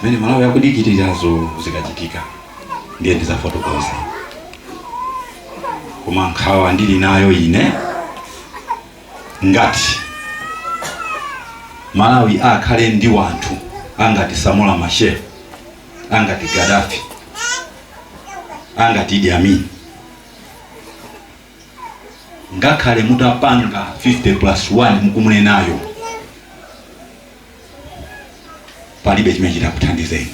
zimene malawi akudikirirazo zikachitika ndiye ndizafotokoze koma nkhawa ndili nayo ine ngati malawi akhale ndi wanthu angati samora machel angati gadafi angati idi amin ngakhale mutapanga 50 plus 1 mukumunenayo palibe chimene chitakuthandizeni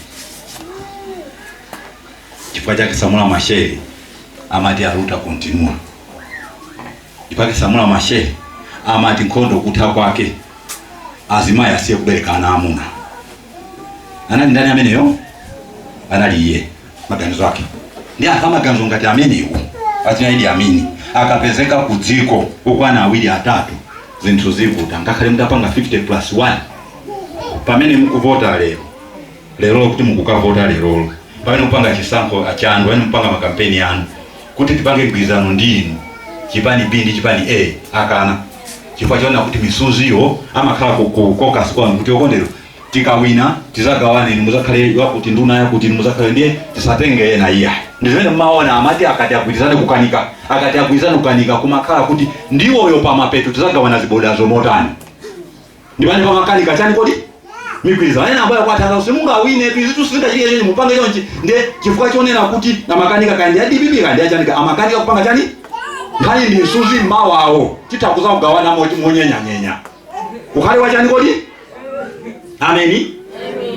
chifukwa chake samora machel amati aluta continua chifukwa chake samora machel amati nkhondo kutha kwake azimayi asiye kubereka ana amuna anali ndani ameneyo anali iye maganizo ake ndi anthu amaganizo ngati amenewo achina idi amin akapezeka ku dziko okwana awiri atatu zinthu zivuta ngakhale mutapanga 50 plus 1 pamene mukuvota lero lero kuti mukukavota lerolo pamene mupanga chisankho chanu pamene mupanga makampeni anu kuti tipange mgwirizano ndi inu chipani b ndi chipani a akana chifukwa chaona kuti msuziwo amakhala ku- ku- caucus kwanu kuti okondedwa tikawina tizagawane inu muzakhale yakuti nduna yakuti inu muzakhale ndiye tisatenge ena iya ndizimene mmaona amati akati agwirizane kukanika akati agwirizane kukanika kumakhala kuti ndiwowo pamapeto tizagawana zibodizo motani ndi pamene pamakanika chani kodi migwirizano ena amayamba kuwathandiza kuti mungawine izitu sizingachitike chonchi mupange chonchi nde chifukwa chonena kuti amakanika kaya ndi a dpp kaya ndi achani amakanika kupanga chani nkhani ndi msuzi mawawo titha kuzakugawana monyenyanyenya ukhale wachani kodi ameni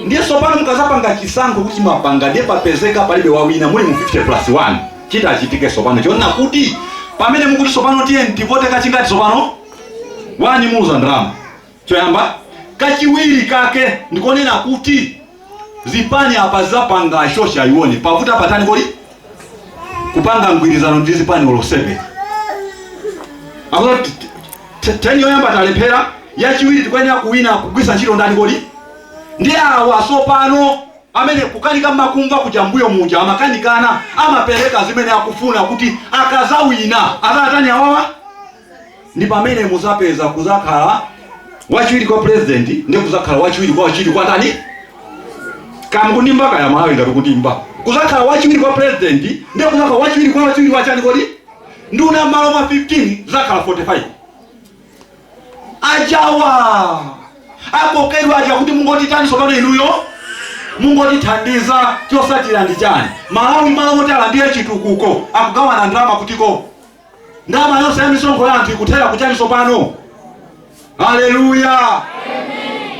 ndiye tsopano mukazapanga chisankho kuti mwapanga ndiye papezeka palibe wawina muli mu 50 plus 1 chitachitike tsopano chonena kuti pamene mukuti tsopano tiye mtivote kachikenati tsopano one muluza ndalama choyamba kachiwiri kake ndikonena kuti zipani apa zapanga shosha ione pakuti apatani kodi kupanga mgwirizano ndi zipani olo 7 akuti t- t- teni yoyamba talephera yachiwiri tikuyenera kuwina kugwiritsa ntchito ndani kodi ndi awa sopano amene kukanika makumva kuja mbuyo muja amakanikana amapereka zimene akufuna kuti akazawina azatani awawa ndi pamene muzapeza kuzakhala wachiwiri kwa president ndi kuzakhala wachiwiri kwa wachiwiri kwa ndani kaya kundimba kaya malawi ngati kundimba kuzakhala wachiwiri kwa president ndi kuzakhala wachiwiri kwa wachiwiri wa chani kodi nduna malo mwa 15 zakhala 45 ajawa akokedwa aja kuti mungotitani sopano inuyo mungotithandiza chotsatira ndi chani malawi malo moti alandire chitukuko akugawana ndalama kutiko ndalama yonse ya misonkho ya anthu ikuthera kuchani tsopano haleluya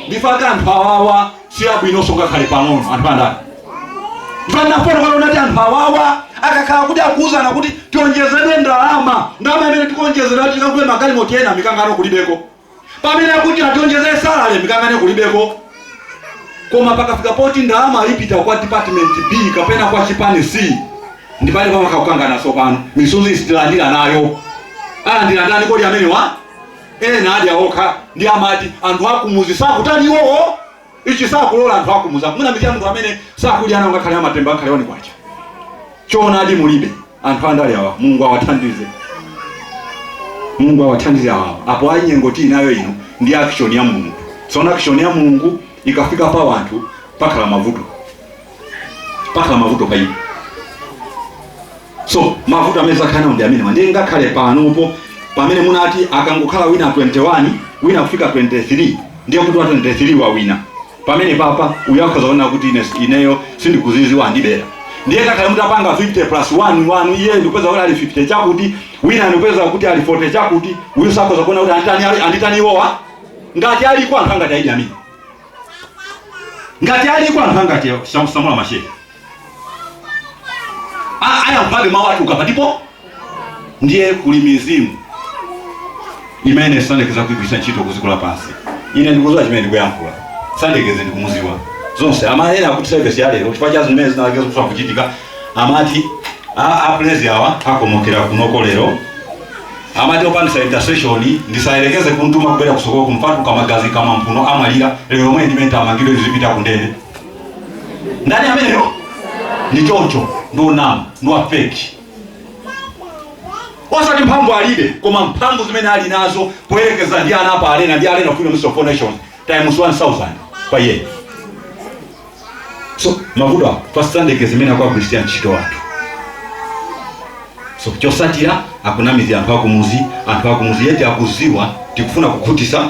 ndifaka anthu awawa si abwinonso ngakhale pang'ono anthu andale ndipandafuna kale ndinati anthu awawa akakhala kuti akuwuzana kuti tionjezere ndalama ndalama imene tikuonjezera tikagule magalimoto ena mikangano kulibeko Pamene akuti ationjezera salary mikangano kulibeko koma pakafika poti ndalama ipita kwa department B kapena kwa chipani C ndi pamene pamakhala kukangana tsopano misozi sitilandira nayo alandira ndani kodi amenewa eya adya okha ndi amati anthu akumuzi sakutani iwowo Ichi sakulora anthu akumuzi apo mwina mitu ya munthu amene sakudya nawo ngakhale amatemba ngakhale one kwacha choonadi mulibe anthu andale awa mulungu awathandize mulungu awathandize awa apo ayi nyengo tili nayo ino ndi action ya mulungu tsono action ya mulungu ikafika pa wanthu pakhala mavuto pakhala mavuto pa iwo so mavuto amene azakhala ndi amenewa ndiye ngakhale panopo pamene munati akangokhala wina 21 wina kufika 23 ndiye kuti wa 23 wawina pamene paja uyo akhoza kuona kuti ine ineyo sindinaluze andibera ndiye ngakhale mutapanga 50 plus 1 wina ndikupeza kuti ali 50 chakuti wina ndikupeza kuti ali 40 chakuti uyu azakhoza kuona kuti anditani anditani iwowa ngati aliko anthu angati aidi amene ngati aliko anthu angati samula mashehe ayankhabe mawu ati ukapatipo ndiye kuli mizimu imene sayerekeza kuigwiritsa ntchito kuziko lapansi ine ndikuziwa chimene ndikuyankhula sayerekeze ndikumuziwa zonse amayena akuti sevesi yalero chifukwa cha zimene zinayerekeza kufa kuchitika amati a- apolisi awa akomokera kunoko lero Amati opangisa intercession ndisayerekeze kumtuma kubwera kusukulu kumtuluka magazi kamwa mphuno amwalira lero lomwe ndi menta amangidwe ndizipita kundende ndani ameneyo ndi choncho ndi onama ndi wa fake osati mphamvu alibe koma mphamvu zimene ali nazo poyerekeza ndi ana apa arena ndi arena freedom of four nations times 1000 pa year so mavuto ako pachitandeke zimene akuagwiritira ntchito anthu so chosatira akunamiza anthu akumuzi anthu akumuzi yeti akuziwa tikufuna kukhutitsa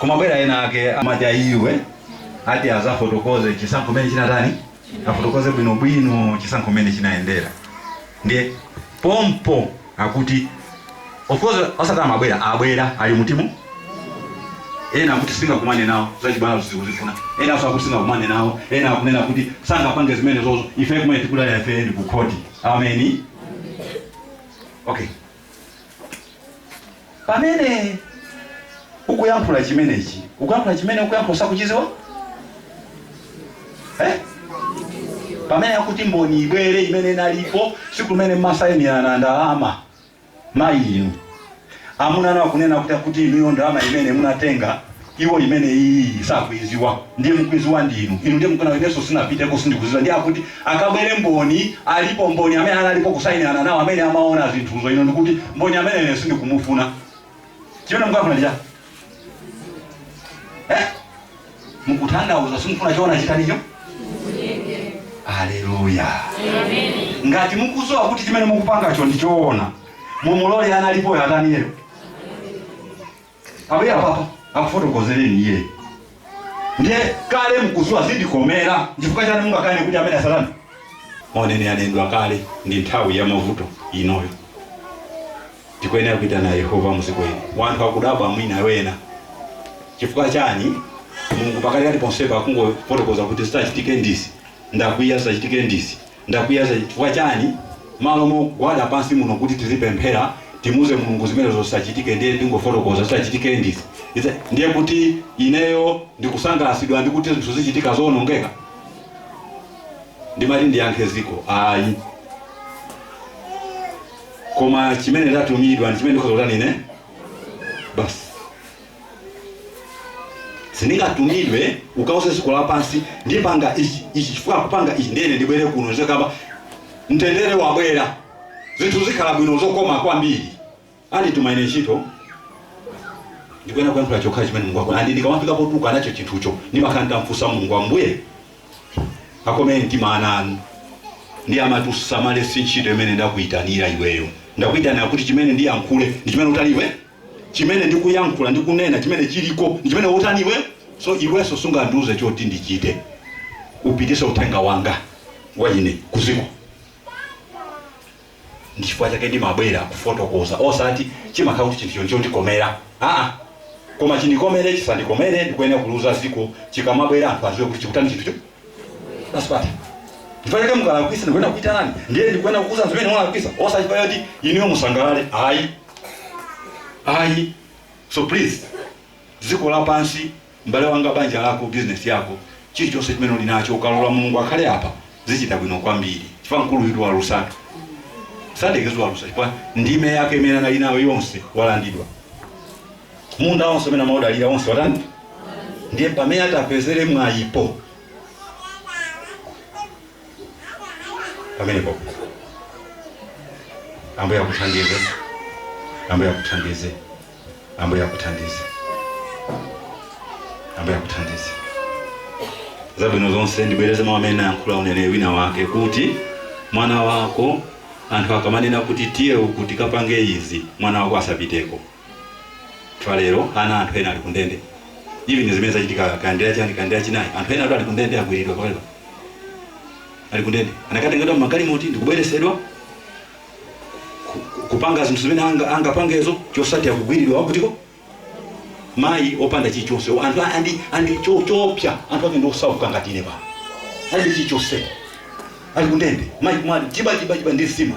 kumabwera ena ake amati ayi iwe ati azafotokoze chisankho mene chinatani afotokoze bwinobwino chisankho mene chinayendera ndiye pompo akuti of course osati amabwera abwera ali mutimo ena akuti singakumane nawo zachibwana sindikuzifuna enanso akuti singakumane nawo ena akunena kuti sangapange zimene zozo ife chimene tikudalira ife ndi kukhoti ameni okay Pamene ukuyankhula chimenechi, ukuyankhula chimene ukuyankhula osachiziwa? Eh? Pamene akuti mboni ibwere imene analipo siku limene mumasayinirana ndalama mayi inu amuna anunso akunena kuti akuti inuyo ndalama imene munatenga iwo imene iyiyi sakuiziwa ndiye mukuiziwa ndi inu ino ndiye mukunena inenso sinapiteko sindikuziwa ndiye akuti akabwere mboni alipo mboni amene analipo kusainirana nawo amene amaona zinthuzo inu n'kuti mboni amene uja sindikumufuna chimene mukafuna ndi chani eh? mukutanthauza simufuna choona chitaninso aleluya ngati mukuziwa kuti chimene mukupangacho ndi choona mumulole analipoyo ataniyeyo ambuye apapa akufotokozereni iye ndiye kale mkuziwa zindikomera chifukwa chani mungakane kuti amene asalani mneneri anendwa kale ndi nthawi ya mavuto inoyo tikuyenera kuitana yehova mudziwe wanthu akudabwa mwina ena chifukwa chani mulungu pakati kati ponsepa akungofotokoza kuti zitachitike ndi izi ndakwiya zitachitike ndi izi Ndakwiya za chifukwa chani? Malo mogwada pansi muno kuti tizipemphera timuuze Mulungu zimenezo zisachitike ndiye akungofotokoza zitachitike ndi izi ndiye kuti ineyo ndikusangalasidwa ndi kuti zinthu zichitika zoonongeka? Ndimati ndiyankhe dziko ayi koma chimene ndatumidwa ndi chimene ndikhoza kutani ine basi. sindingatumidwe ukauze dziko lapansi ndipanga ichi ichi chifukwa akupanga ichi ndiye ine ndibwere kuno ndizakamba mtendere wabwera zinthu zikhala bwino zokoma kwambiri andituma ine ntchito ndikuyenera kuyankhula chokhala chimene mulungu akufuna and ndikamafika potuluka nacho chinthucho ndimakhala ndamfunsa mulungu ambuye akomereni mtima ana anu ndiye amati usamale si ntchito imene ndakuyitanira iweyo ndakuyitanira kuti chimene ndiyankhule ndi chimene utani iwe chimene ndikuyankhula ndi kunena chimene chiliko ndi chimene utani iwe so iwenso sungandiuze choti ndichite upititse uthenga wanga wa ine kuziko ndi chifukwa chake ndimabwera kufotokoza osati chimakhala kuti chinthu choncho chandikomera aa koma chindikomere chisandikomere ndikuyenera kuuza ziko chikamabwera anthu aziwe kuti chikutani chinthucho pasipata chifukwa chake mukalakwisa ndikuyenera kukuitanani ndiye ndikuyenera kukuuzani zimene mwalakwisa osati chifukwa choti inuyo musangalale ayi ayi so please dziko lapansi m'bale wanga banja lako bizinesi yako chilichonse chimene uli nacho ukalola mulungu akhale apa zichita bwino kwambiri chifukwa mkuluyutu walusatu sadekezo walusa chifukwa ndime yake imene anali nayo yonse walandidwa munda onse umene amaudalira onse watani ndiye pamene atapezere mwayipo pamenepo ambuye akuthandize ambuye akuthandize ambuye akuthandize ambuye akuthandize zabwino zonse ndibwereze mawu amene anayankhula mneneri wina wake kuti mwana wako anthu akamanena kuti tiye uku tikapange izi mwana wako asapiteko Mpaka lero ana a anthu ena ali kundende. Even zimene zachitika kaya ndi lachani kaya ndi lachinayi, anthu enatu ali kundende agwiridwa pakali pano. Ali kundende. Anakatengedwa m'magalimoti ndi kubweretsedwa ku- ku- kupanga zinthu zimene anga- angapangezo chotsatira kugwiridwa wakutiko mayi opanda chilichonse anthu a- andi andi cho- choopsa anthu ake ndiosauka ngati ine pano alibe chilichonse ali kundende mayi kumati jiba jiba jiba ndi nsima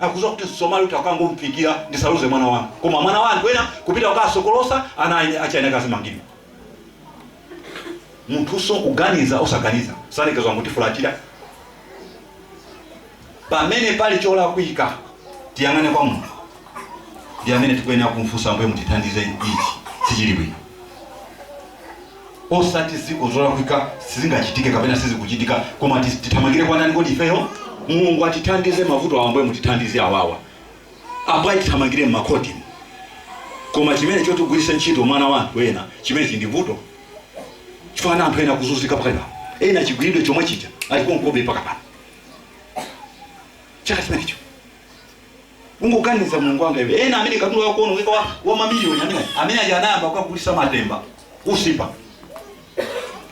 akudziwa kuti msomali uti akangomfikira ndisaluze mwana wanga koma mwana wa anthu ena kupita kukasokolosa ana a eni ake ena akazimangidwa munthuso kuganiza osaganiza sanekezwa ngutifulatira pamene pali cholakwika tiyang'ane kwa munthu ndi amene tikuyenera kumfunsa ambuye mutithandize ichi sichili bwino osati m'dziko zolakwika sizingachitike kapena sizikuchitika koma tis- tithamangire kwa ndani kodi ifeyo mulungu atithandize mavuto awa ambuye mutithandize awawa ambuye tithamangire mmakhoti koma chimene chotigwiritsa ntchito mwana wa anthu ena chimene chili ndi vuto chifukwa anthu ena akuzunzika pakali pano ena chigwiridwe chomwe chija alikonkobe mpaka pano chaka chimenecho Tangoganiza mulungu wanga iwe ena amene katundu wawo kuonongeka wa, wa mamiliyoni amene aja- amene aja anayamba kukagulisa matemba usipa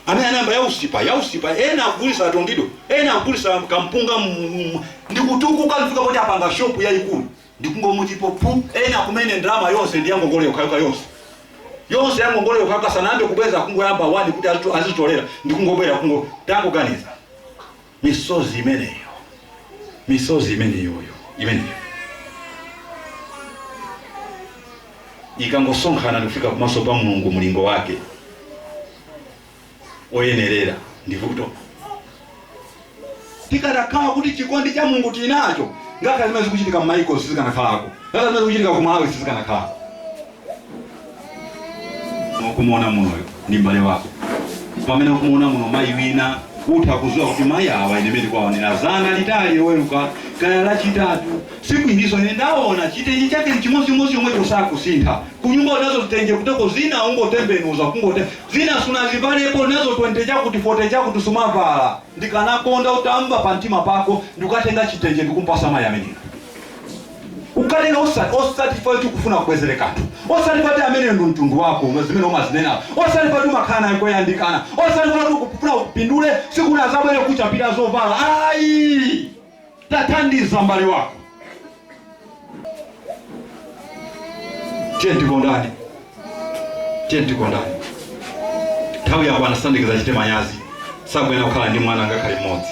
amene anayamba ya usipa ya usipa ena akugulisa atondido ena akugulisa kampunga mu- mu- ndi kutukuka kufika poti apanga shopu yayikulu ndikungomutipo pu ena kumene ndalama yonse ndi yangongole yokhayokha yonse yonse yangongole yokhayokha sanayambe kubweza kungoyamba wani kuti azitu- azitolera ndikungobwera kungo tangoganiza Misozi imeneyo, misozi imeneyoyo, imeneyo ikangosonkhana ndikufika kumaso pa Mulungu mlingo wake oyenerera ndi vuto. Zikadakhala kuti chikondi cha Mulungu tili nacho, ngakhale zimene zikuchitika m'mayiko sizikanakhalako, ngakhale zimene zikuchitika ku Malawi sizikanakhalako. ukumuona munoyo ndi mbale wako pamene ukumuona muno mayi wina utha kudziwa kuti mayi awa ine mmene ndawaonera dzana litali loweruka kaya lachitatu tsiku ilo ine ndaona chitenje chake ni chimodzimodzi yomwe osakusintha kunyumba unazo zitenje kuteko zina ungotembenuza kungote zina sunazivalepo nazo 20 chakuti 40 chakuti sumavala ndikanakonda utamva pa mtima pako ndikukatenga chitenje ndikumpatsa mayi ameneyo Ukanene osati, osati chifukwa choti ukufuna kubwezere kanthu, osati poti ameneyo ndi mtundu wako, uma- zimene umazinenazo, osati poti umakhala naye koyandikana, osati poti ukufuna upindule, sikuti azabwere kukuchapira zovala ayi. Tathandiza mbale wako. Tiye tikondane, tiye tikondane. Nthawi yako anasandikiza chite manyazi, sakuyenera kukhala ndi mwana ngakhale mmodzi.